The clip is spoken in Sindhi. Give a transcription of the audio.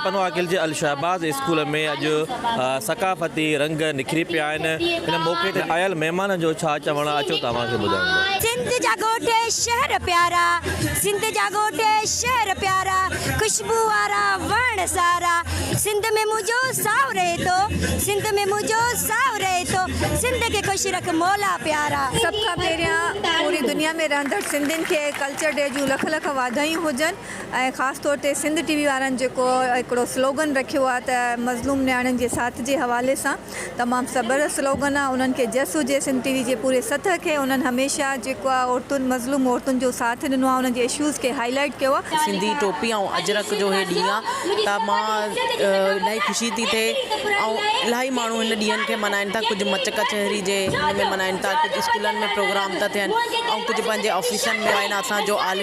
پنو عاقل جي الشهباز اسڪول ۾ اڄ ثقافتي رنگ نکري پيا آهن، ان موقعي تي آيل مهمانن جو ڇا چوڻ آهي اچو توهان کي ٻڌايون. سنڌ جا ڳوٺ شهر پيارا سنڌ جا ڳوٺ شهر پيارا خوشبو وارا وڻ سارا سنڌ ۾ منهنجو ساهو رهي ٿو سنڌ ۾ منهنجو ساهو رهي ٿو سنڌ کي خوش رک مولا پيارا. سڀ کان پهريان پوري دنيا ۾ رهندڙ سنڌين کي ڪلچر ڊي جون لک لک واڌايون هجن. ۽ خاص طور تي سنڌ ٽي وي وارن جيڪو هڪڙو سلوگن رکيو آهي ته مظلوم نياڻين جي ساٿ جي حوالي سان تمام زبردست سلوگن آهي انهن کي جس هجي سنڌ ٽي وي جي پوري سطح کي انهن هميشه جيڪو آهي عورتن مظلوم عورتن جو ساٿ ڏنو آهي انهن جي اشوز کي هائي لائيٽ ڪيو آهي. سنڌي ٽوپي ۽ اجرڪ جو هي ڏينهن آهي ته مان الائي خوشي ٿي ٿئي ۽ الائي ماڻهو هن ڏينهن کي ملهائين ٿا ڪجهه مچ ڪچهري جي هن ۾ ملهائين ٿا ڪجهه اسڪولن ۾ پروگرام ٿا ٿين ۽ ڪجهه پنهنجي آفيسن ۾ آهن اسان جو عالمي